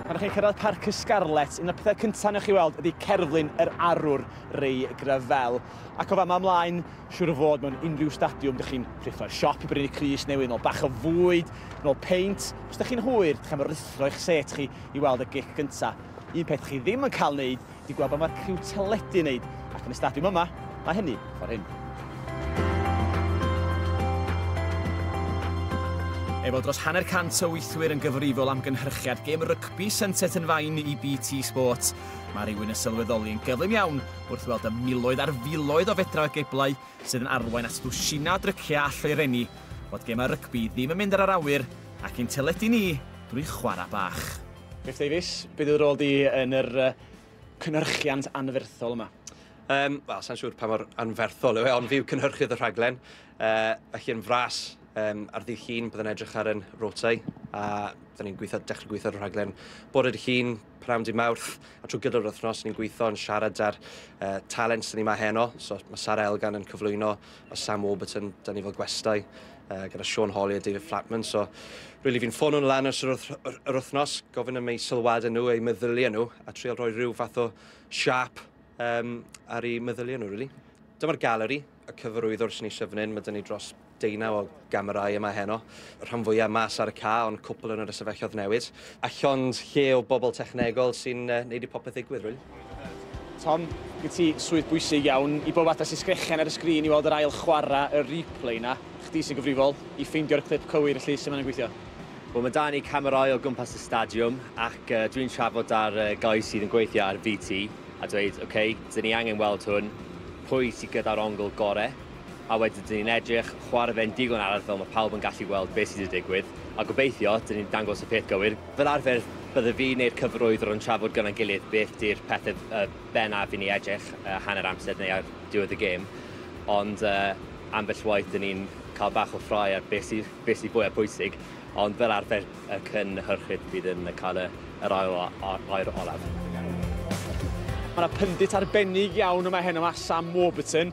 Pan ydych chi'n cyrraedd Parc y Scarlets, un o'r pethau cyntaf wnewch chi weld ydy cerflun yr arwr, Ray Gravell. Ac o fama ymlaen, siŵr o fod mewn unrhyw stadiwm dych chi'n rhuthro'r siop i brynu crys newydd, nol bach o fwyd, nol peint. Os dych chi'n hwyr, dych am ruthro eich set chi i weld y gic gyntaf. Un peth chi ddim yn cael wneud wedi gweld be mae'r criw teledu yn wneud, ac yn y stadiwm yma, mae hynny y ffordd hyn. Efo dros hanner cant o weithwyr yn gyfrifol am gynhyrchiad gêm rygbi Sunset yn fain i BT Sport, mae rhywun yn sylweddoli yn gyflym iawn wrth weld y miloedd ar filoedd o fedra o geblau sydd yn arwain at ddwsina o dryciau a lloerenni, fod gemau rygbi ddim yn mynd ar yr awyr ac i'n teledu ni drwy chwarae bach. Griff Davies, beth yw'r rôl di yn yr uh, cynhyrchiant anferthol yma? Um, Wel, sa'n siŵr pa mor anferthol yw e, ond fi yw cynhyrchydd y rhaglen. Uh, felly yn fras, um, ar ddydd llun, byddai'n edrych ar yn rotau, a dyn ni'n gweithio, dechrau gweithio ar y rhaglen bod yr llun, prawn di mawrth, a trwy gydol yr wythnos, ni'n gweithio yn siarad ar uh, talent sy'n ni mae heno, so mae Sara Elgan yn cyflwyno a Sam Warburton, da ni fel gwestai, uh, gyda Sean Holly a David Flatman, so really fi'n ffono nhw lan ys yr wythnos, gofyn am eu sylwadau nhw, eu meddyliau nhw, a trial rhoi rhyw fath o siap um, ar eu meddyliau nhw, really. Dyma'r galeri, y cyfarwyddwr sy'n ei syfnyn, mae dyn ni dros deunaw o gamerâu yma heno. Y rhan fwyaf mas ar y ca, ond cwpl yn yr ystafelloedd newydd. A llond lle o bobl technegol sy'n uh, neud i popeth ddigwydd, really. Tom, gyd ti swydd bwysig iawn. I bob atas i sgrechian ar y sgrin i weld yr ail chwarae y replay na. Chdi sy'n gyfrifol i ffeindio'r clip cywir y lle sy'n mynd gweithio. Wel, mae da ni camerâu o gwmpas y stadiwm ac uh, dwi'n trafod ar uh, gais sydd yn gweithio ar VT a dweud, oce, okay, dyn ni angen weld hwn, pwy sydd gyda'r ongl gorau, a wedyn dyn ni'n edrych chware fe'n digon aruthrol, mae pawb yn gallu gweld beth sydd wedi digwydd, a gobeithio dyn ni'n dangos y peth gywir. Fel arfer, bydde fi neu'r cyfarwyddwr yn trafod gyda'n gilydd beth 'di'r pethe yy bennaf i ni edrych yy hanner amser neu ar diwedd y gêm, ond yy ambell waith 'dyn ni'n cael bach o ffrae ar beth sy beth sy fwya pwysig, ond fel arfer y cynhyrchydd fydd yn cael y yr ail o- a- air olaf. Mae 'na pyndit arbennig iawn yma heno, ma' Sam Warburton,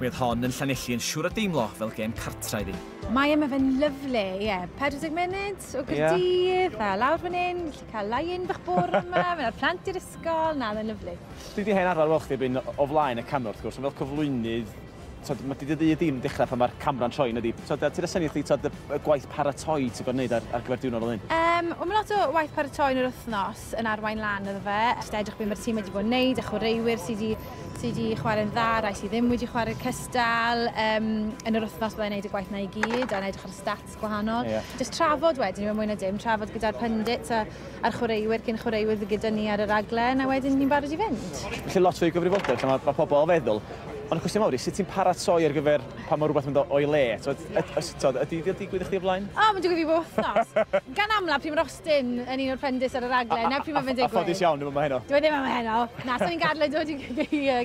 Mi oedd hon yn Llanelli yn siŵr o deimlo fel gêm cartra iddi. Mae yma fe'n lyflu, ie. Yeah. 40 munud o Gyrdydd, yeah. a lawr fan hyn, gallu cael lain bych bwr yma, mae'r plant i'r ysgol, na, mae'n lyflu. Dwi wedi hen arfer weld chdi byn o flaen y camera, wrth gwrs, ond fel cyflwynydd, tod, mae dydy y dim dechrau pan mae'r camera'n troi, nid i. Tod, ti'n rhasenu chdi, tod, y gwaith paratoi ti'n gwneud ar, ar gyfer diwrnod o hyn? Um, o, mae lot o waith paratoi yn yr wythnos. Ffit yn arwain lan iddo fe. Jyst edrych beth mae'r tîm wedi bod yn neud a chwaraewyr sydd wedi, sy wedi chwarae'n dda, rai sydd ddim wedi chwarae'r cystal. Um, yn yr wythnos byddai'n neud y gwaith na i gyd a'n edrych ar y stats gwahanol. Yeah. Jyst trafod wedyn, mewn mwy na dim, trafod gyda'r pundits a, a'r chwaraewyr cyn chwaraewyr fydd gyda ni ar y raglen a wedyn ni'n barod i fynd. Felly lot fwy o gyfrifoldeb, lle mae, mae pobl o feddwl. Ond y cwestiwn mawr i, sut ti'n paratoi ar gyfer pan mae rhywbeth yn dod o'i le? Tod, yd, yd, tod, ydy wedi digwydd i chdi o blaen? O, oh, mae'n digwydd i bob wythnos. Gan amla, pryd mae'r Dyn yn un o'r prendis ar y raglen, na pryd mae fe'n digwydd. A ffodus iawn, ddim yma heno. Dwi e ddim yma heno. Na, so ni'n gadle dod i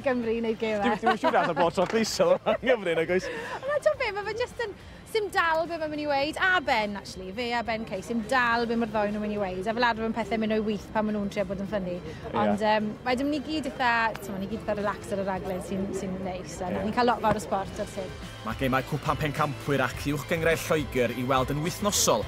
Gymru i wneud gêm e. Dwi'n siŵr allan bod tro pwyso yma yn Gymru, na gwys. Na, ti'n be, mae fe just yn... Sim dal be mae'n mynd i weid, a Ben, actually, fe a Ben Case, sim dal be mae'r ddoi nhw'n mynd i weid, a fel adfer yn pethau mynd o'i wyth pan maen nhw'n trio bod yn ffynnu. Ond yeah. um, mae dim ni gyd eitha, ti'n ni gyd eitha relax ar y raglen sy'n sy neis, a yeah. ni'n cael lot fawr o sport ar syd. Mae gemau cwpan pencampwyr ac uwch gyngrau Lloegr i weld yn wythnosol